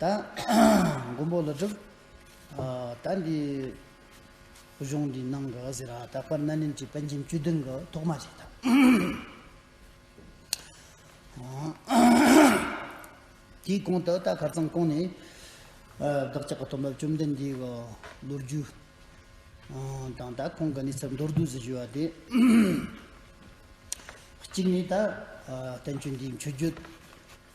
ད་མགོན་པོ་ལ་དྲིས། ད་འདི་གཞུང་འདི་གནང་གི་ཟེར་ར་ད་པར་སྣ་ནིམ་གྱི་དཔལ་འབྱིན་བཅུ་བདུན་གྱི་ཐོག་མ་ཞིག་དང། དེའི་གོང་དུ་ད་གར་ཚང་ཀོང་ནས་བདག་ཅག་གི་དོན་འབབ་བཅོམ་ལྡན་འདས་ཀྱི་ལོ་རྒྱུས་དང་ད་ཁོང་གི་གནས་ཚུལ་མདོར་བསྡུས་སུ་བཞུགས་པ་དེ། གཅིག་ནས་ད་བསྟན་བཅོས་འདིའི་མཆོད་བརྗོད་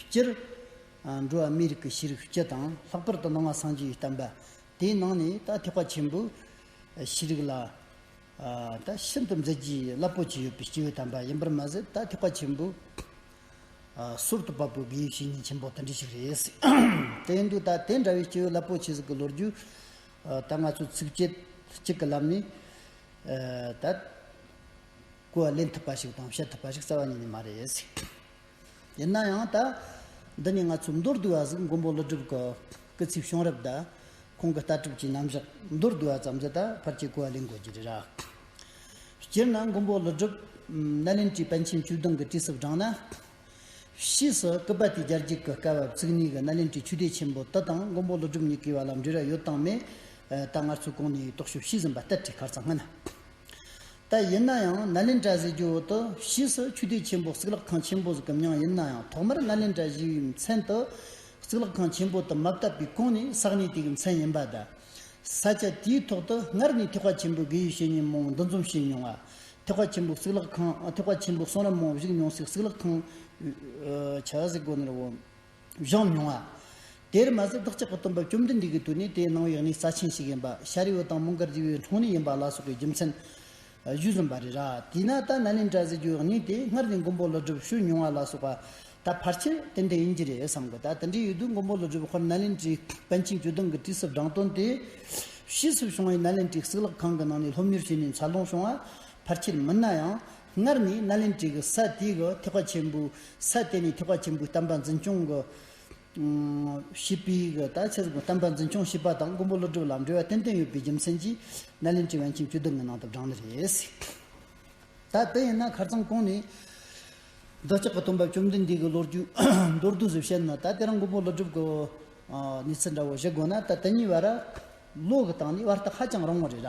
སྤྱིར། འགྲོ་བ་མིའི་རིགས་ཀྱི་ཤེས་རིག་སྤྱི་དང་ལྷག་པར་དུ་སྣང་བ་སངས་རྒྱས་བསྟན་པ་དེའི་ནང་ནས་ད་ཐེག་པ་ཆེན་པོའི་ཤེས་རིག་ལ་ད་ཤིན་ཏུ་མཛད་རྒྱུའི་རླབས་པོ་ཆེ་ཡོད་པའི་སྐྱེས་བུ་དམ་པ་ཡིན་པར་མ་ཟད་ད་ཐེག་པ་ཆེན་པོའི་ཟུར་དུ་བབས་པའི་དགེ་བའི་བཤེས་གཉེན་ཆེན་པོ་དེ་འདྲ་ཞིག་རེད། དེ་ཡིན་དུས་ད་དེ་འདྲ་བའི་སྐྱེས་བུ་རླབས་པོ་ཆེ་ཟིག་གི་ལོ་རྒྱུས་ད་ང་ཚོས་ཚིགས་བཅད་གཅིག་གི་ལམ་ནས་ད། སྐུ་བ་ལེན་ཐུབ་པ་ཞིག་དང་བཤད་ཐུབ་པ་ཞིག་རྩ་བ་ཉིད་ནས་མ་རེད། ཡིན་ན་ཡང་ད། འདི་ནི་ང་ཚོའི་མདོར་བསྡུས་བ་གཟིགས་མགོན་པོ་ཀླུ་སྒྲུབ་གི་སྐུ་ཚེའི་བྱུང་རབས་དང། ཁོང་གི་ལྟ་གྲུབ་ཀྱི་རྣམ་གཞག་མདོར་བསྡུས་བ་ཙམ་གྱིས་ད་བར་གྱི་སྐུ་བ་ལེན་དགོས་ཀྱི་རེད། སྤྱིར་ན་མགོན་པོ་ཀླུ་སྒྲུབ། ནཱ་ལེནྡྲའི་པཎ་ཆེན་བཅུ་གདུང་གི་བྲིས་སུ་བགྲངས་ན། ཕྱིས་སུ་སྐུ་པ་ཏི་ལྗར་འགྱིག་གི་སྐ་བབས་བརྩིགས་ནུས་ཀྱི་ནཱ་ལེནྡྲའི་ཆོས་སྡེ་ཆེན་པོ་དེ་དང་མགོན་པོ་ཀླུ་སྒྲུབ་གཉིས་ཀའི་བར་ལ་འབྲེལ་བ་ཡོད་དང་མེད། ད་ངར་ཚོའི་གོང་ནས་རྟོག་ཞིབ་བྱས་ཟིན་པ་ལྟར་བྲིས་ཁར་ཚང་ངན། ད་ཡིན་ན་ཡང་ནཱ་ལེནྡྲ་གཟིགས་རྒྱུ་འོག་ཏུ་ཕྱིས་སུ་ཆོས་སྡེ་ཆེན་པོ་གཙུག་ལག་ཁང་ཆེན་པོ་གཟིགས་གམ་ཡང་ཡིན་ན་ཡང་ཐོག་མར་ནཱ་ལེནྡྲ་གཞིས་བའི་མཚན་དུ་གཙུག་ལག་ཁང་ཆེན་པོ་དུ་མ་བཏབ་པའི་གོང་ནས་བསགས་ནས་དེ་གི་མཚན་ཡིན་པ་དང། ས་ཆ་དེའི་ཐོག་ཏུ་སྔར་ནས་ཐེག་པ་ཆེན་པོའི་དགེ་ཡུལ་བཤེས་གཉེན་མང་འདུ་འཛོམས་བྱས་མྱོང་བ། ཐེག་པ་ཆེན་པོའི་གཙུག་ལག་ཁང་ཐེག་པ་ཆེན་པོའི་གསུང་རབ་མང་བཞུགས་མྱོང་སའི་གཙུག་ལག་ཁང། བྱ་གཟིགས་དགོན་ནས་དབུ། བཞེངས་མྱོང་བ། དེར་མ་ཟད་བདག་ཅག་གི་སྟོན་པ་བཅོམ་ལྡན་འདས་ཀྱི་དུས་ནས་དེའི་སྣང་བའི་གནས་རྩ་ཆེན་ཞིག་ཡིན་པ་ཤཱ་རིའི་བུ་དང་མོ་མགར་རྗེ་བའི་འཁྲུངས་གནས་ཡིན་པ་ལ་སོགས་པའི་རྒྱུ་མཚན། བཞུགས་ཟིན་པ་རེད་ར་དེས་ན་ད་ན་ནི་འདྲ་ཟེར་རྒྱུའི་གནས་དེ་སྔར་ནས་མགོན་པོ་ཀླུ་སྒྲུབ་ཞུས་མྱོང་བ་ལ་སོགས་པ། ད་ཕར་ཆེར་དེ་འདྲ་ཡིན་གྱི་རེད་བསམ་གི་ད་དེ་འདྲ་ཡོད་དུས་མགོན་པོ་ཀླུ་སྒྲུབ་ཧོར་ནཱ་ལེནྡྲའི་པཎ་ཆེན་བཅུ་དུང་གི་དུས་སུ་བྲང་སྟོན་དེས། ཕྱིས་སུ་བྱུང་བའི་ནཱ་ལེནྡྲའི་གཙུག་ལག་ཁང་གི་ནང་ནས་སློབ་གཉེར་བྱས་ནས་འཚར་ལོངས་བྱུང་བ། ཕར་ཆེར་མིན་ན་ཡང། སྔར་ནི་སྣ་ལེན་བྲིས་ཀྱི་ས་དེའི་གི་ཐེག་པ་ཆེན་པོའི་ས་དེ་ནི་ཐེག་པ་ཆེན་པོའི་གཏམ་པ་འཛིན་སྐྱོང་གི། ཞེས་པའི་གི་དང་ཕྱེད་གསུམ་གྱི་གཏམ་པ་འཛིན་སྐྱོང་ཞེས་པ་དང་མགོན་པོ་ཀླུ་སྒྲུབ་ལ་འབྲེལ་བ་ཏན་ཏན་ཡོད་པའི་རྒྱུ་མཚན་གྱིས་སྣ་ལེན་བྲིས་བན་ཆེན་བཅུ་བདུན་གྱི་ནང་དུ་བགྲང་ནི་རེད། ད་དེ་ཡིན་ན་ཁར་ཚང་ཀོང་ནས། འདོད་ཆགས་ཀྱི་སྟོན་པ་བཅོམ་ལྡན་འདས་ཀྱི་ལོ་རྒྱུས་མདོར་བསྡུས་སུ་བཤད་ན་ད་དེ་རང་མགོན་པོ་ཀླུ་སྒྲུབ་ཀྱི། ནི་ཚིག་འདྲ་བོ་བཞི་དགོས་ན་ད་དེ་གཉིས་བར། ལོ་གི་སྟངས་ནི་བར་ཐག་ཧ་ཅང་རིང་བ་རེད།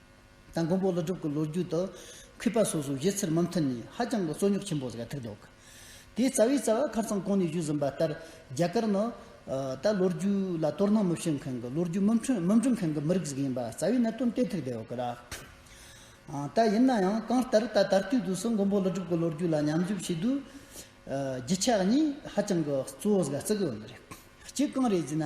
དང་མགོན་པོ་ཀླུ་སྒྲུབ་ཀྱི་ལོ་རྒྱུས་དག་གུས་པ་སོ་སོའི་གཞས་ཚིག་རྨང་མཐིལ་ནས་ཧ་ཅང་གི་རྩོད་རྙོག་ཆེན་པོ་ཟེར་ཐུག་འདུག་དེའི་རྩ་བའི་རྩ་བ་ཁར་ཚང་གོང་ནས་བཞུགས་ཟིན་པ་ལྟར་རྒྱ་གར་ནི། ད་ལོ་རྒྱུས་ལ་དོ་སྣང་མི་བྱེད་མཁན་གྱི་ལོ་རྒྱུས་མི་འབྲི་མཁན་གྱི་མི་རིགས་ཟིག་ཡིན་པ་རྩ་བའི་གནད་དོན་དེ་ཐུག་འདུག་ལ། ད་ཡིན་ན་ཡང་གང་ལྟར་ད་ད་ལྟའི་དུས་སུ་མགོན་པོ་ཀླུ་སྒྲུབ་ཀྱི་ལོ་རྒྱུས་ལ་ཉམས་ཞིབ་བྱེད་དུས། རྒྱུ་ཆ་གཉིས་ཧ་ཅང་གི་གཙོ་བོ་ཟིག་རྩི་གི་ཡོད་རེད། གཅིག་གང་རེད་ཅེ་ན།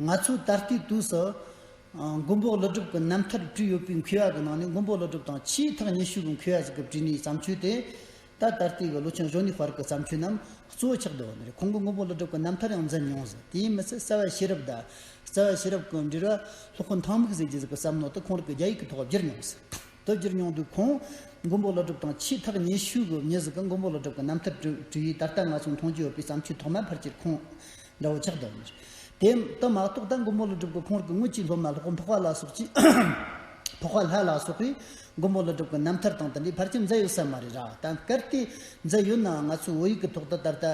ང་ཚོས་ད་ལྟའི་དུས་སུ། མགོན་པོ་ཀླུ་སྒྲུབ་ཀྱི་རྣམ་ཐར་བྲིས་ཡོད་པའི་མཁས་པ་གྱི་ནང་ནས་མགོན་པོ་ཀླུ་སྒྲུབ་དང་ཆེས་ཐག་ཉེ་ཤོས་ཀྱི་མཁས་པ་ཞིག་གིས་བྲིས་ནས་བརྩམས་ཆོས་དེ། ད་ལྟ་ལྟར་ཏེ་གི་ལོ་ཆུང་གཞོན་ནུའི་བར་གྱི་བརྩམས་ཆོས་རྣམས་གཙོ་བོ་ཆགས་བསྡད་པ་ནི་རེད་ཁོང་གིས་མགོན་པོ་ཀླུ་སྒྲུབ་ཀྱི་རྣམ་ཐར་ཡང་འཛིན་མྱོང་ཟེར་དེའི་མི་ཚད་རྩ་བའི་ཤེས་རབ་དང། རྩ་བའི་ཤེས་རབ་ཀྱི་འབྲེལ་བ་ལྷོ་ཁུ་མཐང་མིག་ཟེར་གྱི་གཟུགས་ཀྱི་བསམ་མནོ་དེ་ཁོང་རིག་གི་རྒྱ་ཡིག་གི་ཐོག་བསྒྱུར་མྱོང་ཟེར། དེ་བསྒྱུར་མྱོང་དུས་ཁོང། མགོན་པོ་ཀླུ་སྒྲུབ་དང་ཆེས་ཐག་ཉེ་ཤོས་ཀྱི་མྱི་ཞིག་གིས་མགོན་པོ་ཀླུ་སྒྲུབ་ཀྱི་རྣམ་ཐར་བྲིས་ཡོད་ད་ལྟ་ང་ཚོས་མཐོང་རྒྱུ་ཡོད་པའི་བརྩམས་ཆོས་ཐོག་མའི་ཕར་ཆེར་ཁོང། འདྲ་བོ་ཆགས་འདུག་མོད། དེ་ལྟ་མ་གཏོགས་ད་མགོན་པོ་ལ་སྒྲུབ་དགོས་ཁོང་གི་དངུལ་གྱིས་སློབ་མ་ལྷོག་འཕོག་བ་ལ་སོགས་ཀྱིས། འཕོག་བ་ལྷ་ལ་སོགས་པས་མགོན་པོ་ལ་སྒྲུབ་དགོས་རྣམ་ཐར་དང་དེ་འདྲའི་བར་གྱི་མཛད་ཡོད་ས་མ་རེད་ར་ད་གལ་ཏེ་མཛད་ཡོད་ནའང་ང་ཚོའི་བོད་ཡིག་གི་ཐོག་ཏུ་ད་ལྟ་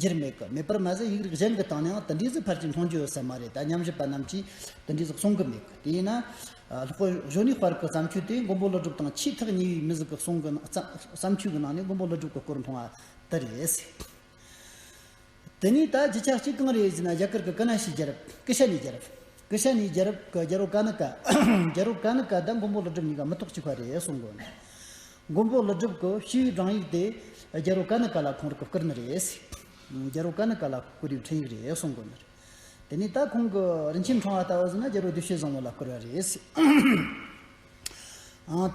འགྱུར་མེད་གི་མེད་པར་མ་ཟད་ཡིག་རིགས་གཞན་གྱི་སྟེང་ནའང་དེ་འདྲའི་གཟུགས་ཕར་ཅིག་མཐོང་རྒྱུ་ཡོད་ས་མ་རེད་ད་ཉམས་ཞིབ་པ་རྣམས་ཀྱིས་དེ་འདྲའི་གཟུགས་གསུང་གི་མེད་གི་དེས་ན། ལྷོག་གཞོན་ནུའི་དཔར་གྱི་བརྩམས་ཆོས་དེ་མགོན་པོ་ལ་སྒྲུབ་དང་ཕྱིས་ཐག་ཉེ་བའི་མི་གཟུགས་གསུང་གི་བརྩམས་ཆོས་ཀྱི་ནང་ནས་མགོན་པོ་ལ་སྒྲུབ་ཀྱི་སྐོར་མཐོང་བ་དེ་རེད། དེ་ནས་ད་རྒྱི་ཆ་གཅིག་གང་རེད་ཟེར་ན་རྒྱ་གར་གི་ཀ་ན་ཤི་རྒྱལ་རབས་ཀི་ཤ་ནི་རྒྱལ་རབས་ཀི་ཤ་ནི་རྒྱལ་རབས་ཀི་རྒྱལ་རོ་ཀ་ནི་ཀ་རྒྱལ་རོ་ཀ་ནི་ཀ་ད་མགོན་པོ་ལི་སྒྲིབ་གཉིས་ཀ་མི་ཐོག་གཅིག་པ་རེད་གསུངས་དགོས་ནས། མགོན་པོ་ལི་སྒྲིབ་ཀི་ཤུའི་བགྲང་ཡིག་དེ་རྒྱལ་རོ་ཀ་ནི་ཀ་ལ་ཁོང་རི་ཀི་བཀིར་ནི་རེད། རྒྱལ་རོ་ཀ་ནི་ཀ་ལ་བཀིར་བའི་འཕྲིན་ཡིག་རེད་གསུངས་དགོས་ནས། དེ་ནས་ད་ཁོང་གི་རིན་ཆེན་འཕྲང་བ་ལྟ་བུ་ཟེར་ན་རྒྱལ་རོ་བདུད་བཤེས་བཟང་བོ་ལ་བཀིར་བ་རེད།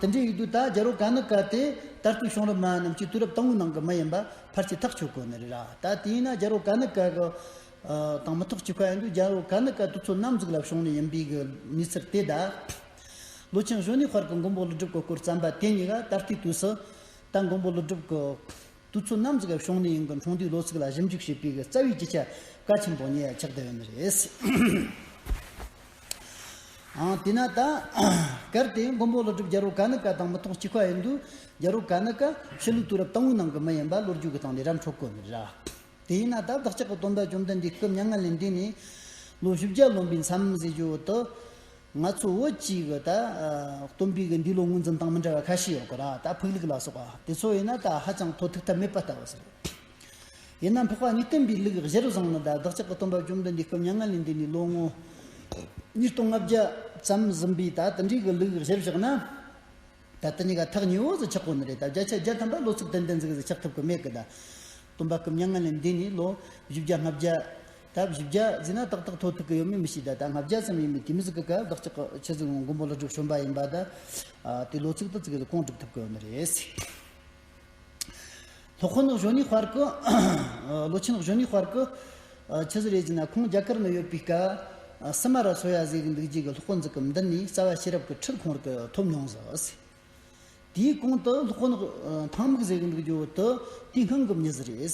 དེ་འདྲའི་ཡུལ་དུ་ད་རྒྱལ་རོ་ག་ནི་ཀ་སྟེ། ད་ལྟའི་གཤོང་རི་མ་རྣམས་ཀྱི་དུས་རབས་དང་པོའི་ནང་གི་མི་ཡིན་པ་ཕར་ཆད་ཐག་ཆོད་གོ་ནི་རེད་ར་ད་དེ་ཡིན་ན་རྒྱལ་རོ་ག་ནི་ཀ་གི། དང་མི་ཐག་གཅིག་པ་ཡིན་དུས་རྒྱལ་རོ་ག་ནི་ཀ་དུས་ཚོད་ནམ་གཟུགས་ལ་གཤོང་རི་ཡིན་པའི་གི་ནུས་ཚད་དེ་དག་ལོ་ཆེན་གཞོན་ནུའི་བར་གི་མགོན་པོ་ཀླུ་སྒྲུབ་ཀྱི་སྐོར་བརྩམས་པ་དེ་གཉིས་ཀ་ད་ལྟའི་དུས་སུ། ད་མགོན་པོ་ཀླུ་སྒྲུབ་ཀྱི། དུས་ཚོད་ནམ་གཟུགས་ལ་གཤོང་རི་ཡིན་གྱི་འཁྲུངས་དུས་ལོ་ཚིགས་ལ་ཞིབ་འཇུག་བྱེད་པའི་གི་རྩ་བའི་ཀྱི་ཆ་གལ་ཆེན་པོ་གཉིས་ཡ་ཆགས་བསྡད་ཡོད་ནི་རེད། དེས་ན་ད། གལ་ཏེ་མགོན་པོ་ལྷོ་སྒྲུབ་རྒྱལ་རོ་ག་ནི་ཀ་དང་མི་ཐོག་གཅིག་པ་ཡིན་དུས། རྒྱལ་རོ་ག་ནི་ཀ་ཆོས་ལུགས་དུས་རབས་དང་བོའི་ནང་གི་མི་ཡིན་པ་ལོ་རྒྱུས་ཀྱི་སྟེང་ནས་རབ་འཕྲོ་བཀོད་མེད། ར་དེས་ན་ད་བདག་ཅག་གི་སྟོན་པས་བཅོམ་ལྡན་འདས་སྐབས་ཉེར་ལྔ་ལས་འདས་ནས། ལོ་བཞི་བརྒྱ་ལོན་པའི་མཚམས་བཞེས་རྒྱུ་འོག་ཏུ། ང་ཚོ་བོད་ཀྱི་གི་ད། སྟོན་པའི་གི་འདི་ལོ་ངོས་འཛིན་སྟངས་མི་འདྲ་བ་ཁ་ཤས་ཡོད་གི་ར་ད་ཕུགས་ལུགས་ལ་སོགས་པ་དེ་ཚོ་ཡིན་ན་ད་ཧ་ཅང་ཐོག་ཐུག་ཐབས་མེད་པ་ལྟ་བུ་ཟེར། ཡིན་ནམ་འཕགས་པ་ཉིད་སྟོན་པའི་ལུགས་གཞིར་བཟུང་ནི་བདག་ཅག་གི་སྟོན་པ་བཅོམ་ལྡན་འདས་སྐུ་མྱ་ངན་ལས་འདས་ནས་ལོ་ངོ་ཉིས་སྟོང་ལྔ་བརྒྱ་ཙམ་ཟིན་པའི་ད་ལྟ་འདྲིས་གི་ལུགས་གཞིར་བཞག་ན། ད་ལྟ་ཉི་ག་ཐག་ཉི་འོག་ཟིག་ཆགས་པོ་ནི་རེད་ད་བརྒྱ་ཆ་བརྒྱ་ཐམ་པ་ལོ་ཚིགས་དོན་ལྡན་ཟིག་ཟིག་ཆགས་ཐུབ་གི་མེད་གི་ད་སྟོན་པ་སྐུ་མྱ་ངན་ལས་འདས་ནས་ལོ་བཞི་བརྒྱ་ལྔ་བརྒྱ། ད་བཞི་བརྒྱ་ཟིན་ན་ཏག་ཏག་ཐོ་ཐུག་གི་ཡོད་མེད་མི་ཤེས་ད་ད་ལྔ་བརྒྱ་ཙམ་ཡིན་པའི་དུས་མི་ཟིག་གི་སྐབས་བདག་ཅག་གི་ཆོས་ཚིགས་ནང་མགོན་པོ་ལྷུ་སྒྲུབ་བྱོན་པ་ཡིན་པ་ད་དེ་ལོ་ཚིགས་ཏུ་ཙིག་གིས་ཀོང་བསྒྲུབ་ཐུབ་གི་ཡོད་ནི་རེད། ལྷོ་ཁོ་ནག་གཞོན་ནུའི་བར་གྱི། ལོ་ཆེན་ནག་གཞོན་ནུའི་བར་གྱི། ཆུ་ཟི་རེད་ཅེ་ན་ཁོང་རྒྱ་གར་ནས་ཡོད་པའི་སྐབས། སི་མ་ར་སོ་ཡ་ཟེར་གྱི་འདུག་རྗེས་ཀྱི་ལྷོ་ཁོ་འཛིན་སྐབས་འདི་ནས་རྩ་བ་ཤེས་རབ་ཀྱི་ཁྲིད་ཁོང་གིས་ཐོབ་མྱོང་ཟེར། དེའི་གོང་དུ་ལྷོ་ཁོ་ནག་འཐང་མིག་ཟེར་གྱི་འདུག་རྒྱུ་དེ་དུས་སྔོན་གྱི་མྱི་ཟི་རེད།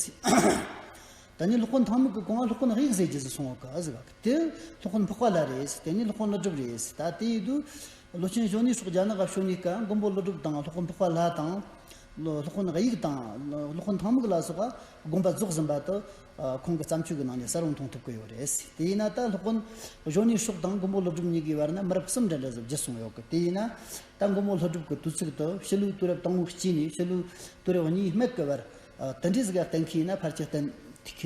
ད་ནི་ལྷོ་ཁོ་འཐང་མིག་གི་གོང་ལྷོ་ཁོ་ནག་ཡིག་ཟེར་གྱི་ཟི་སོང་གི་ཟི་བ་གི་དེ་ལྷོ་ཁོ་ནག་འཕགས་པ་ལ་རེད། དེ་ནི་ལྷོ་ཁོ་ནག་གྲུབ་རེད། ད་དེའི་དུས་ལོ་ཆེན་གཞོན་ནུའི་སོགས་རྒྱ་ནག་གཞོན་ནུའི་སྐབས་མགོན་པོ་ཀླུ་སྒྲུབ་དང་སློབ་དཔོན་འཕགས་པ་ལྷ་དང། སློབ་དཔོན་དབྱིག་དང། སློབ་དཔོན་ཐང་མུག་ལ་སོགས་པ་དགོན་པ་རྫོགས་ཟིན་པ་དུ། ཁོང་གི་བརྩམས་ཆོས་ཀྱི་ནང་ནས་གསལ་བོར་མཐོང་ཐུབ་ཀྱི་ཡོད་རེད། དེ་ཡིན་ན་ད་སློབ་དཔོན་གཞོན་ནུའི་སོགས་དང་མགོན་པོ་ཀླུ་སྒྲུབ་གཉིས་ཀྱི་བར་ན་མི་རབས་གསུམ་འདྲ་འདྲ་བཟོ་བགྱིད་གསུངས་ཡོད་ཀི་དེ་ཡིན་ན། ད་མགོན་པོ་ཀླུ་སྒྲུབ་ཀྱི་དུས་ཚིགས་དུ་ཕྱི་ལུགས་དུས་རབས་དང་བོ་གཅིག་ནས་ཕྱི་ལུགས་དུས་རབས་གཉིས་སྨད་ཀྱི་བར། དེ་འདྲའི་གཟིགས་ཀ་བསྟན་མཁན་ཡིན་ན་ཕར་ཆེར་བསྟན་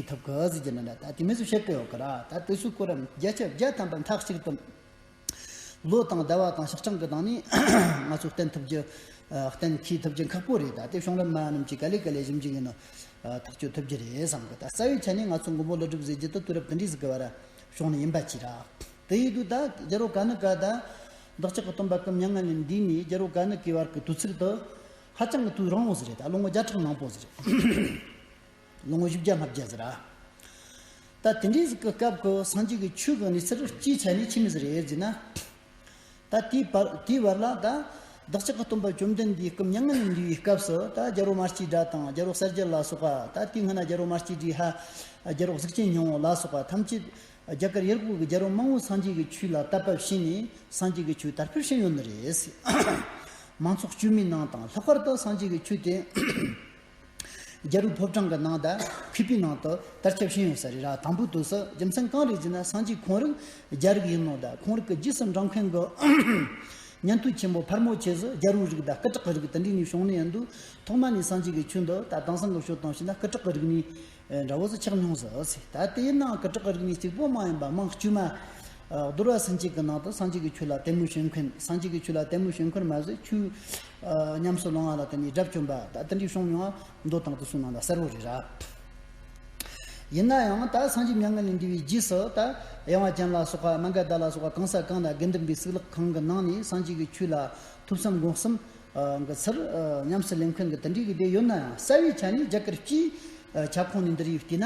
ཐུབ་ཀྱི་གཟིགས་རྒྱུ་འདི་འདྲ་ད་དུས་མི་ཚོས་བཤད་ཀྱི་ཡོད་ཀི་ར་ད་དེ་སུའི་སྐོར་རམ་རྒྱལ་ཁྱབ་རྒྱལ་དམ་པ་མཐའ་གཅིག་ཏུ། ལོ་དང་ཟླ་བ་དང་ཞག་གྲངས་ཀྱི་གདངས་ནི་ང་ཚོས་བསྟན་ཐུབ་རྒྱུ། བསྟན་ཁྱེད་ཐུབ་རྒྱུ་ཁག་པོ་རེད་ད་དེ་གཞུང་རབས་མ་རྣམས་ཀྱིས་ག་ལེ་ག་ལེ་གཞུམ་གྱི་ཡིན་ནོ། ཐག་གཅོད་ཐུབ་རྒྱུ་རེད་བསམ་གི་ད་རྩ་བའི་ཆ་ནས་ང་ཚོ་མགོན་པོ་ཀླུ་སྒྲུབ་ཟེར་རྒྱུ་དེ་དུས་རབས་དེ་འདྲའི་ཟིག་གི་བར་གཞུང་ནས་ཡིན་པ་གཅིག་རག་དེ་ཡིན་དུས་ད་རྒྱལ་རོ་ག་ནི་ག་ད་བདག་ཅག་གི་སྟོན་པ་སྐུ་མྱ་ངན་ལས་འདས་ནས་རྒྱལ་རོ་ག་ནི་གའི་བར་གྱི་དུས་ཚིགས་དུ། ཧ་ཅང་གི་དུས་རིང་བོ་ཟིག་རེད་ད་ལོ་ངོ་བརྒྱ་ཕྲག་མང་པོ་ཟིག་རེད། ལོ་ངོ་བཞི་བརྒྱ་ལྷག་བརྒྱད་ཟེར། ད་དེ་འདྲའི་སྐབས་ཁོ་སངས་རྒྱས་ཀྱི་ཆོས་གང་ནས་ཚིག་རེ་གཅིག་ཆ་ནས་ཁྱིམ་མི་ཟེར་ཡོད་ཟེར་ན། ད་དེའི་བར་ལ་ད། བདག་ཅག་གི་སྟོན་པ་བཅོམ་ལྡན་འདས་སྐུ་མྱ་ངན་ལས་འདས་པའི་སྐབས་སུ་ད་རྒྱ་རོག་མ་སྐྱིད་སྒྲ་དང་རྒྱ་རོག་གསལ་རྒྱལ་ལ་སོགས་པ་ད་དེའི་སྔ་ན་རྒྱ་རོག་མ་སྐྱིད་སྒྲའི་ཧ། རྒྱ་རོག་གཟུགས་ཅན་ཉང་བོ་ལ་སོགས་པ་ཐམས་ཅད། རྒྱ་གར་ཡུལ་གོག་གི་རྒྱ་རོག་མང་བོས་སངས་རྒྱས་ཀྱི་ཆོས་ལ་བལྟ་བབས་ཤེས་ནས་སངས་རྒྱས་ཀྱི་ཆོས་དར་འཕེལ་ཕྱིན་ཡོད་ནི་རེད། མང་ཚོགས་བཅོས་མའི་ནང་དང་ལྷག་པར་དུ་སངས་རྒྱས་ཀྱི་ཆོས་དེ། རྒྱ་རུ་ཕོབ་གྲངས་ཀྱི་ནང་ད་ཕི་པི་ནང་དུ་དར་ཁྱབ་ཤིན་ཡོད་ས་རེད་ར་དང་པོ་དུས་སུ་རྒྱུ་མཚན་གང་རེད་ཟེར་ན་སང་གཅིག་ཁོང་རིགས་རྒྱ་རིགས་ཡིན་ནོ་ད་ཁོང་རིགས་ཀྱི་རྗེས་སུ་འབྲང་མཁན་གི་ཉན་ཐོས་ཆེན་པོ་ཕར་མོ་ཆེ་ཟུ་རྒྱ་རུའི་རིགས་ད་སྐུ་དྲག་གི་རིགས་ད་འདྲི་ནས་བྱུང་ནས་ཡོད་འདུག་ཐོག་མ་ནས་སང་གཅིག་གི་ཆུ་འདི་ད་དྭངས་སང་གི་ཆུ་དྭངས་ཤེ་ན་སྐུ་དྲག་གི་རིགས་ནི་འདྲ་བོ་ཚོ་ཆགས་མྱོང་ཟེར་བ་ཟིག་ད་དེའི་ནང་གི་བྲག་གི་རིག་གནས་གཅིག་པོ་མ་ཡིན་པ་མང་དཀྱུས་མ། རྡོར་བ་སྲིན་གཅིག་གི་ནང་དུ་སངས་རྒྱས་ཀྱི་ཆོས་ལ་དད་མོས་བྱེད་མཁན་སངས་རྒྱས་ཀྱི་ཆོས་ལ་དད་མོས་བྱེད་མཁན་མ་ཟད་ཆོས། ཉམས་སུ་བླང་བ་ལ་བརྟེན་ནས་དགྲ་བཅོམ་པ་ད་ལྟ་འདྲའི་ཤོང་མྱོང་ང་མདོ་དང་དུ་སུ་ནང་ལ་གསལ་བོ་རེད་ར། ཡིན་ན་ཡང་ད་སངས་རྒྱས་མྱ་ངན་ལས་འདས་པའི་རྗེས་སུ་ད་ཡང་བ་ཅན་ལ་སོགས་པ་མ་འགའ་ད་ལ་སོགས་པ་གང་ས་གང་ལ་དགེ་འདུན་པའི་གསུག་ལག་ཁང་གི་ནང་ནས་སངས་རྒྱས་ཀྱི་ཆོས་ལ་ཐུབ་བསམ་སྒོམ་བསམ་གི་ཚུལ། ཉམས་སུ་ལེན་མཁན་གྱི་དེ་འདྲའི་སྡེ་ཡོད་ནའང་གསལ་བའི་ཆ་ནས་རྒྱ་གར་སྤྱིའི་ཁྱབ་ཁོངས་ནས་འདིར་ཡོད་བལྟས་ན།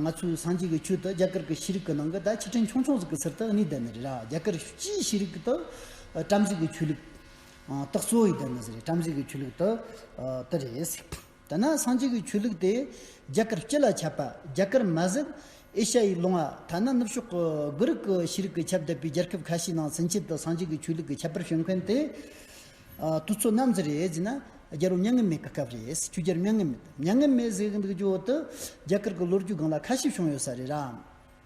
ང་ཚོའི་སངས་རྒྱས་ཀྱི་ཆོས་དེ་རྒྱ་གར་གྱི་ཤེས་རིག་གི་ནང་གི་ད་ཕྱི་དྲན་ཆུང་ཆུང་ཟིག་གི་ཚུལ་དུ་གནས་བསྡད་ནི་རེད་ར་རྒྱ་གར་སྤྱིའི་ཤེས་རིག་དེ་བྲམ་ཟེ་གྱི་ཆོས་ལུགས། རྟགས་གཙོ་བོ་ཡོད་བསྡད་ནི་ཟེར་རེད་བྲམ་ཟེ་གྱི་ཆོས་ལུགས་དེ་དེ་རེད། དེ་ནས་སངས་རྒྱས་ཀྱི་ཆོས་ལུགས་དེ་རྒྱ་གར་སྤྱི་ལ་ཁྱབ་པ་རྒྱ་གར་མ་ཟད་ཨེ་ཤ་ཡའི་ལུང་བ་ཐ་ན་ནུབ་ཕྱོགས་དགུ་རིག་གི་ཤེས་རིག་གི་ཁྱབ་གདལ་པའི་རྒྱལ་ཁབ་ཁ་ཤས་ནང་ཚུན་ཆད་དུ་སངས་རྒྱས་ཀྱི་ཆོས་ལུགས་ཀྱི་ཁྱད་པར་བྱུང་མཁན་དེ་དུས་ཚོད་ནམ་ཟིག་རེད་ཅེ་ན་རྒྱལ་པོ་མྱ་ངན་མེད་ཀྱི་སྐབས་རེད་ཆོས་རྒྱལ་མྱ་ངན་མེད་མྱ་ངན་མེད་ཟེར་གི་འདུག་རྒྱུན་འོག་ཏུ་རྒྱ་གར་གྱི་ལོ་རྒྱུས་སྒང་ལ་ཁ་ཤས་བྱུང་ཡོད་ས་རེད་ར།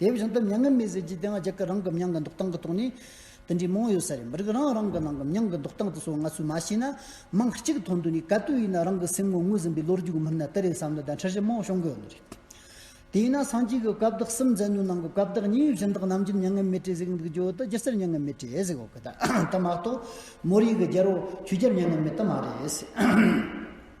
དེ་བཞིན་དུ་མྱ་ངན་མེད་ཟས་ཀྱི་སྡེ་ལྔ་རྒྱ་སྐད་རང་གི་མྱང་གི་འདོགས་སྟངས་ཀྱི་ཐོག་ནས། དེ་འདྲའི་མང་ཡོད་ས་རེད་མི་རིགས་རང་རང་གི་ནང་གི་མྱང་གི་འདོགས་སྟངས་དེ་ཚོ་ང་ཚོས་མ་ཤེས་ན། མིང་གཅིག་ཐོག་འདོན་ནས་ག་དུས་ཡིན་ན་རང་གི་སེམས་ངོར་ངོས་ཟིན་པའི་ལོ་རྒྱུས་ཀྱི་མིག་ནས་དེ་རེད་བསམ་ནས་བརྡ་འཕྲིན་རེ་མང་བྱུང་དགོས་ནི་རེད། དེས་ན་སངས་རྒྱས་ཀྱི་བཀའ་བདག་གསུམ་མཛད་ཉོན་ནང་གི་བཀའ་བདག་གཉིས་གཞི་བདག་རྣམ་རྒྱལ་མྱ་ངན་མེད་གྲས་གཟིགས་འདུག་རྒྱུ་དང་སྒྱུ་རྩལ་མྱ་ངན་མེད་གྲས་གཟིགས་འོག་གི་དེ་མ་གཏོགས། མོ་རིགས་ཀྱི་རྒྱལ་པོ་ཆོས་རྒྱལ་མྱ་ངན་མེད་དེ་མ་རེད།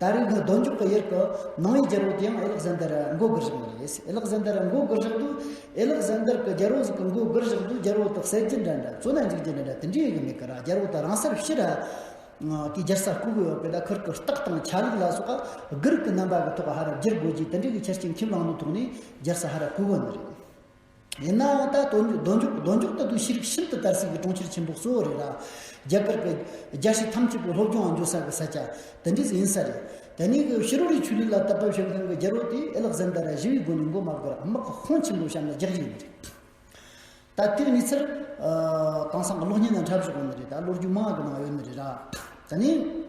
ད་རེས་འདི་སྡོད་འཇུག་གི་ཡུལ་གྱི་ནང་ཡི་རྒྱལ་པོ་དེ་ཡང་ཨེ་ལག་ཟན་དར་མགོ་དགུར་བཞག་ནི་རེད། ཨེ་ལག་ཟན་དར་མགོ་དགུར་བཞག་དུས་ཨེ་ལག་ཟན་དར་གྱི་རྒྱལ་པོ་ཟིག་གི་མགོ་དགུར་བཞག་དུས་རྒྱལ་པོ་དག་ཟས་ཀྱི་འདྲ་འདྲ་བཙོ་ན་འཇིག་རྒྱུ་འདྲ་འདྲ་དེ་འདྲ་ཡོད་ཀྱི་མེད་གི་ར་རྒྱལ་པོ་དག་རང་སར་ཤི་ར། དེའི་རྒྱལ་ས་ལྐུགས་ཡོད་པས་ད་ཁུར་གྱི་རྟགས་དང་ཆ་ལུགས་ལ་སོགས་དགུར་གྱི་རྣམ་པ་གྱི་ཐོག་ཧ་ར་བསྒྱུར་དགོས་ཀྱི་དེ་འདྲ་གི་ཆ་རྐྱེན་ཁྱིམ་རང་དུ་ཐོག་ནས་རྒྱལ་ས་ཧ་ར་ལྐུགས་ཡོད་ནི་རེད། ཡིན་ནའང་ད་དོ་འཇོག་རྡོ་འཇོག་རྡོ་འཇོག་ལྟ་བུའི་ཤེས་རིག་ཤིན་ཏུ་དར་སྲིད་ཀྱི་གྲོང་ཁྱེར་ཆེན་པོ་གཙོ་བོ་རེད་ལ། རྒྱ་གར་པའི། རྒྱ་ཞིག་ཐམས་ཅད་པའི་སློབ་སྦྱོང་འོག་འཇོག་ས་གི་ས་ཆ། དེ་འདྲས་ཡིན་ས་རེད། དེ་ནས་གི་ཤི་རོ་རིའི་ཆོས་ལུགས་ལ་དད་པ་བྱེད་མཁན་གི་རྒྱལ་པོ་དེས་ཨེ་ལག་ཟན་དར་ར་བཞི་བའི་སྒོ་ནས་མགོ་མ་བསྒུར་རམ་དམག་གི་ཁོངས་ཆེན་པོ་བཤམས་ལ་རྒྱག་རྒྱུ་ཡིན་ནི་རེད། ད་ཐེངས་ནི་ཚེ་རབས། དེང་སང་གི་གློག་བརྙན་ནང་འཁྲབ་བཞིན་ཡོད་ནི་རེད་ད་ལོ་རྒྱུས་མང་གི་ནང་ཡོད་ནི་རེད། དེ་ནས།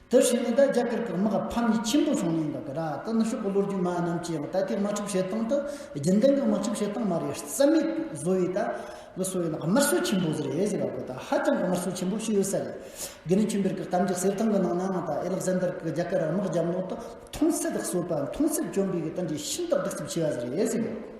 དེ་བཞིན་ནི་ད་རྒྱ་གར་གྱི་དམག་ཕམ་ཉེས་ཆེན་པོ་བྱུང་ནས་འགག་གི་ར་ཏི་ནི་ཤོག་གི་ལོ་རྒྱུས་མ་རྣམས་ཀྱིས་ད་ལྟའི་དམག་འཁྲུག་བྱེད་སྟངས་དེ་རྒྱུན་ལྡན་གྱི་དམག་འཁྲུག་བྱེད་སྟངས་མ་རེད་རྩ་མེད་བཟོ་བའི་ད་ལི་སོ་ཡིན་ན་དམར་གསོད་ཆེན་པོ་ཟེར་ཨེ་ཟེར་བ་པོ་ད་ཧ་ཅང་གི་དམར་གསོད་ཆེན་པོ་བྱས་ཡོད་ས་རེད་དགེ་ལེགས་ཆོས་འཕེལ་གྱི་གཏམ་རྒྱུད་གསེར་ཐང་གི་ནང་ནའང་ད་ཨེ་ལག་ཟན་དར་གྱི་རྒྱ་གར་དམག་རྒྱབ་ནོར་དུ་མཐོང་གསེབ་གསོད་པ་མཐོང་གསེབ་བཅོམ་པའི་གི་ད་འདྲའི་ཤིན་ཏུ་སྡུག་རྩུབ་ཆེ་བ་ཟེར་ཨེ་ཟེར་བ་པོ།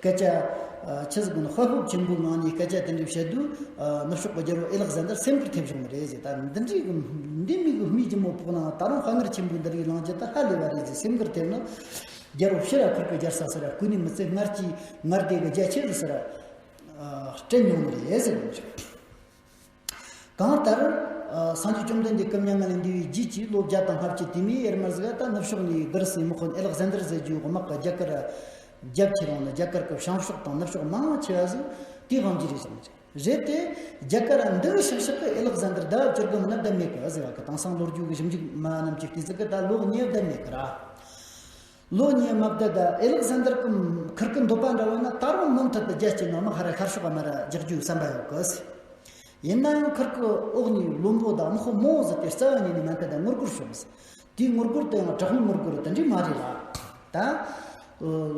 སྐད་ཆ། ཕྱི་ཟླ་དགུ་ནང་ཧོལ་ཧོབ་ཆེན་པོའི་ངང་ནས་སྐད་ཆ་དེ་འདྲ་བཤད་དུས། ནུབ་ཕྱོགས་པ་རྒྱལ་པོ་ཨེ་ལག་ཟན་དར་སེམས་ཁུར་ཐེབས་བྱུང་བ་རེད་ཟེར་ད་འདི་འདྲའི་འདི་མི་གི་སྨིག་རྒྱུ་མོ་ཕོག་ནའང་ད་རུང་དཔའ་ངར་ཆེན་པོས་འདི་རིགས་ལངས་རྒྱུ་ད་ཧ་ལས་པ་རེད་ཟེར་སེམས་ཁུར་ཐེབས་ན། རྒྱལ་པོ་ཕྱིར་ར་ཁུར་པའི་རྒྱར་ཟ་ཟེར་ར་ཀུན་ནས་མི་ཚེ་སྔར་གྱི་ངར་དེ་གི་རྒྱ་ཆེ་རུ་ཟེར་ར། སྤྲད་མྱོང་ནི་རེད་ཟེར་བ་རེད། གང་ལྟར། སངས་རྒྱས་བཅོམ་ལྡན་འདས་སྐུ་མྱ་ངན་ལས་འདས་པའི་རྗེས་ཀྱི་ལོ་བརྒྱ་དང་ལྔ་བཅུ་དུས་མིན་ཡེར་མར་གཟིགས་ཨ་ཏཱ་ནུབ་ཕྱོགས་ནས་བསྡུར་ཟིན་མི་ཁོ་ནས་ཨེལག་ཟན་དར་ཟེར་རྒྱུའི་དབུ་དམག་གི་རྒྱ་གར། རྒྱབ་ཁྱི་རང་ལ་རྒྱ་གར་གྱི་བྱང་ཕྱོགས་དང་ནུབ་ཕྱོགས་མང་ཆེ་བ་ཟིག་དེའི་དབང་གིས་རེད་བསམ་གྱི་རེད་དེ། རྒྱ་གར་འདི་རུ་ཤག་ཤག་གི་ཨེལག་ཟན་དར་ཟླ་བ་བཅུར་སྒོམ་ན་ལྡབ་མེད་གི་ཟེར་བ་གི་དང་སང་ལོ་རྒྱུས་ཀྱི་ཞིབ་འཇུག་མ་རྣམས་ཀྱི་ལྟས་ཟིག་གི་ད་ལོ་ཉེས་ལྡབ་མེད་གི་ར། ལོ་གཉིས་དམའ་བརྡལ་དུ་ཨེ་ལིག་ཟན་དར་གྱི་ཁུར་གྱི་འདོད་པ་འདྲ་བོ་ནི་ད་རུང་མུ་མཐུད་དུ་རྒྱལ་སྤྱིའི་ནང་མི་ཧ་རེ་ཤར་ཕྱོགས་པ་མར་རྒྱག་རྒྱུའི་བསམ་པ་ཡོད་གི། ཡིན་ནའང་ཁུར་གྱི་འོག་ནས་བློན་པོ་དང་དམག་དཔོན་མོའོ་ཟི་ཏའི་རྩ་བ་ཉིད་ནས་མ་འཐད་པའི་ངུར་སྒུར་བྱུང། དེའི་ངུར་སྒུར་དེ་ཡང་དྲག་མོའི་ངུར་སྒུར་དེ་འདྲས་མ་རེད་ལ། ད་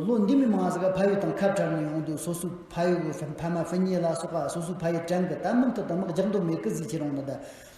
ལོ་འདི་མི་མང་ཟེར་ག་ཕ་ཡུལ་དང་ཁ་བྲལ་ནས་ཡོང་དུས་སོ་སོའི་ཕ་ཡུལ་གྱི་ཕ་མ་ཕུ་ཉེ་ལ་སོགས་པ་སོ་སོའི་ཕ་ཡུལ་དྲན་གི་ད་མུ་མཐུད་དུ་དམག་རྒྱག་འདོད་མེད་གི་ཟིག་ཁྱེད་རང་ནི་ད་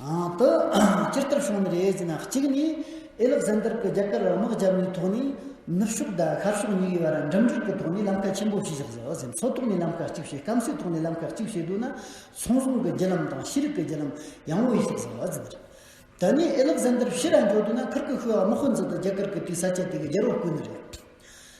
དུ། སྤྱིར་བསྟར་བྱུང་བའི་རེའུ་མིག་གཅིག་ནི། ཨེ་ལག་ཟན་དར་གྱིས་རྒྱ་གར་དམག་རྒྱབ་ནས་ཐོག་ནས་ནུབ་ཕྱོགས་དང་ཤར་ཕྱོགས་གཉིས་ཀའི་བར་འགྲིམ་འགྲུལ་གྱི་ཐོག་ནས་ལམ་ཁ་ཆེན་པོ་ཞིག་བཞག་ཟེར་བ་བཞིན་མཚོ་ཐོག་ནས་ལམ་ཁ་གཅིག་བྱས་སྐམ་སའི་ཐོག་ནས་ལམ་ཁ་གཅིག་བྱས་འདུག་ན་ཚོང་ཟོང་གི་བརྒྱུད་ལམ་དང་ཤེས་རིག་གི་བརྒྱུད་ལམ་ཡང་བོ་ཡིས་ཞིག་ཟེར་བ་བཞིན་རེད། དེ་ནས་ཨེ་ལག་ཟན་དར་ཕྱི་ར་འགྱོ་འདུག་ན་ཁིར་ཀི་ཤུ་ཡ་དམག་དཔོན་ཚོ་དང་རྒྱ་གར་གྱི་དུས་ས་ཆ་དེ་གའི་རྒྱལ་པོ་དཀོན་ནི་རེད།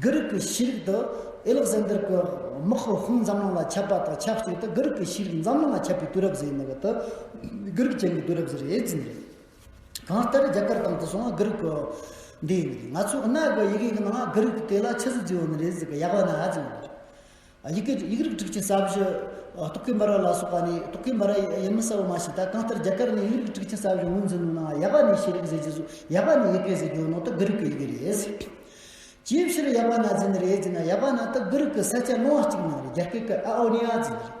དགུ་རིག་གི་ཤེས་རིག་ཏུ་ཨེ་ལག་ཟན་དར་གྱི་དམག་ཧོ་ཧུང་འཛམ་གླིང་ལ་ཁྱབ་པ་དང་ཆབས་ཅིག་ཏུ་དགུ་རིག་གི་ཤེས་རིག་འཛམ་གླིང་ལ་ཁྱབ་པའི་དུས་རབས་གཟེངས་ནས་དུ་དགུ་རིག་ཅན་གྱི་དུས་རབས་ཟེར་ཨེ་ཙི་ནས་རེད། གང་ལྟར་རྒྱ་གར་དང་དུ་སོང་དགུ་རིག་གི་འདི་ཡིན་ནི་རེད། ང་ཚོའི་གནའ་གི་ཡི་གེ་ཡི་ནང་དགུ་རིག་གི་དེ་ལ་ཆུ་ཟི་བརྗེ་བོ་ནི་རེད་ཟེར་གི་ཡག་པ་ནི་ཧ་ཅང་ཡོད་རེད། ཡིག་རིགས་སྒྲིག་ཆས་གསར་བཞི། རྟོག་གེ་འབར་བ་ལ་སོགས་པ་ནི་རྟོག་གེ་འབར་བ་ཡིན་མིན་གསལ་བོ་མ་ཤེས་ད་གང་ལྟར་རྒྱ་གར་ནས་ཡིག་རིགས་སྒྲིག་ཆས་གསར་བཞི་ངོས་འཛིན་གནང་ཡག་པ་ནི་ཤེས་རིག་ཟེར་རྗེས་སུ་ཡག་པ་ནི་ཡི་གེ་ཟེར་རྒྱུའི་ནང་དུ་གྷི་རིག་གི་ཡི་གེ་རེད། ཅིའི་ཕྱིར་ཡག་པ་ན་འཛིན་རེད་ཅེ་ན་ཡག་པ་ན་དུ་གྷི་རིག་གི་ས་ཆ་ལོང་བ་གཅིག་ནང་རེད་རྒྱ་སྐད་ཀྱི་ཨ་ཨོ་ནི་ཨ་ཛི་རེད།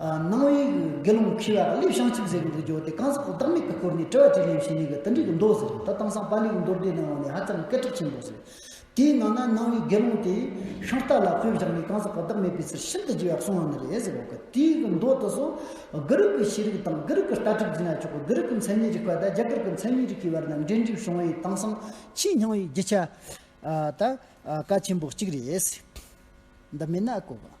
སྣང་བའི་དགེ་སློང་ཁྱི་བ་ལི་ཤང་གཅིག་ཟེར་བ་འདི་འབྱོར་ཏེ་གང་ཟག་གོ་བདག་མེད་པའི་སྐོར་ནས་དྲི་བ་དྲིས་ལན་བྱས་ནས་གི་ཏི་འགྲིག་གི་འདོད་ཟེར་ད་དང་སང་པཱ་ལིའི་མདོར་བསྡུས་གནང་བ་ནི་ཧ་ཅང་སྐད་གྲགས་ཆེན་པོ་ཟེར། དེའི་ནང་ན་སྣང་བའི་དགེ་སློང་དེས་ཤོང་རྟ་ལ་སྤོས་བཞག་ནས་གང་ཟག་གོ་བདག་མེད་པའི་ཕྱིར་ཤིན་ཏུ་རྒྱས་པར་གསུང་བ་ནི་རེད་ཟེར་བ་གི་ཏིའི་གི་མདོ་དུ་སོང། དགུ་རིག་གི་ཤེས་རིག་དང་དགུ་རིག་གི་ལྟ་གྲུབ་རྒྱུད་ན་ཆོག་གི་དགུ་རིག་གི་མཚན་ཉིད་རིག་པ་དང་རྒྱ་གར་གྱི་མཚན་ཉིད་རིག་གི་བར་ན་འབྲེལ་འདྲིས་བྱུང་བས་དེང་སང་ཆེས་སྙིང་བའི་རྒྱུ་ཆ། ད། ཀ་ཆེན་པོ་གཅིག་རེད། འདི་མེད་ན་ཀོ་བ།